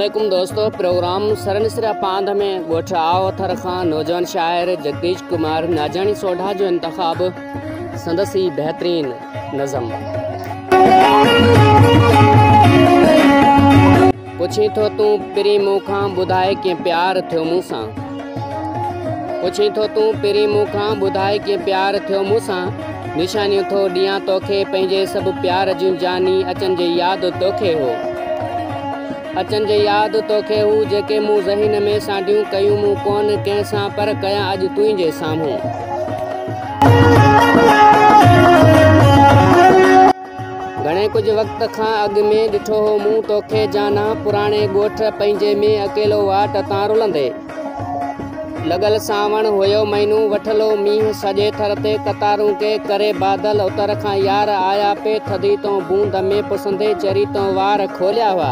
عليڪم دوستو پروگرام سرنسرا پاند ۾ ڳوٺ آو اٿر کان نوجوان شاعر جگديش ڪمار ناجاڻي سوڍا جو انتخاب سندس ئي بهترين نظم پڇين ٿو تون پرين مون کان ٻڌاء ڪيئن پيار ٿيو مون سان پڇين ٿو تون پرين مون کان ٻڌاء ڪيئن پيار ٿيو مون سان نشانيون ٿو ڏيان توکي پنهنجي سڀ پيار جون جاني اچن جي ياد توکي هو اچن جي ياد توکي هو جيڪي مون ذهن ۾ سانڍيون ڪيون مون ڪون ڪنهن سان پر ڪيان اڄ تنهنجي سامهون گهڻي ڪجهه وقت کان اڳ ۾ ڏٺو هو مون توکي جانا پراڻي ڳوٺ پنهنجي ۾ اڪيلو واٽ تان رلندي لڳل سانوڻ هيو مهينو وٺلو مينهن سڄي ٿر تي قطارون ڪي ڪري بادل اتر کان يار آيا پي ٿڌي تون بوند ۾ پسندي چري تون وار کوليا هئا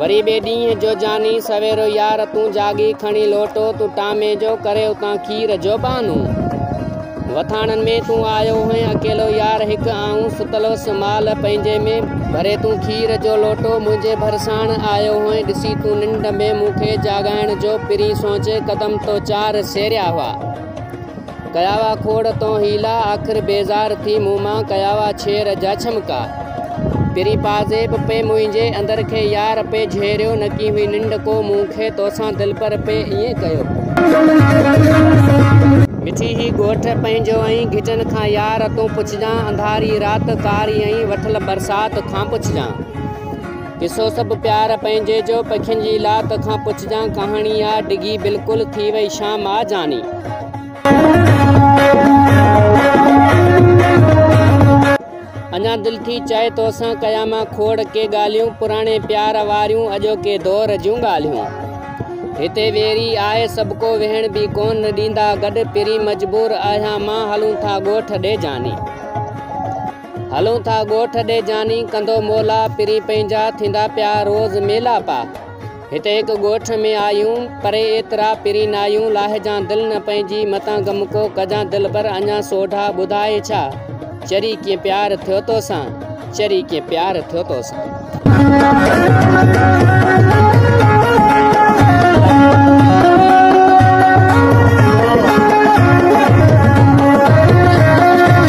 وري ٻئي ڏينهن جو جاني سويرو يار تون جاڳي کڻي لوٽو تون ٽامي جو ڪري اتان کير جو ٻانو وٿاڻن ۾ تون آيو هئين اڪيلو يار هڪ آئون ستل هوس مال پنهنجي ۾ ڀري تون کير جو لوٽو منهنجي ڀرساڻ آيو هئين ڏسي تون ننڊ ۾ مون کي جاڳائڻ جو پرين سوچي قدم تو چار سيريا هئا. ڪيا وا کوڙ تون حيلا آخر بيزار ٿي مون مان ڪيا وا ڇير جا ڇمڪا تيري پازيب پئي منهنجي اندر کي يار پئي جهيريو نڪي هئي ننڊ ڪو مون کي توسان دلبر پئي ائين ڪيو مٺي هي ڳوٺ پنهنجو ۽ گهٽن کان يار تون پڇجان انڌاري رات ڪاري ۽ وٺل برسات کان پڇجان. قصو سڀ پيار پنهنجي جو پکين جي لاڪ کان پڇجان ڪهاڻي آ ڊگهي بلڪل ٿي وئي شام آ جاني. اڃا دل ٿي چاهي توسان ڪيان مان کوڙ ڪي ڳالهيون پراڻي پيار واريون اڄوڪي دور جون ڳالهيون هتي ويري آهي سڀڪو ويهڻ به ڪون ڏيندا گڏ پرين مجبور آهيان مان هلون ٿا ڳوٺ ڏي جاني. هلون ٿا ڳوٺ ڏي جاني ڪندو مولا پرين پنهنجا ٿيندا پيا روز ميلا پا هتي هڪ ڳوٺ ۾ آيون پري ايترا پرين نايون لاهجان دل نه پنهنجي متان غم ڪو ڪجان دلبر اڃا سوڍا ٻڌائي ڇا چري ڪيئن پيار ٿيو توسان چري ڪيئن پيار ٿيو توسان.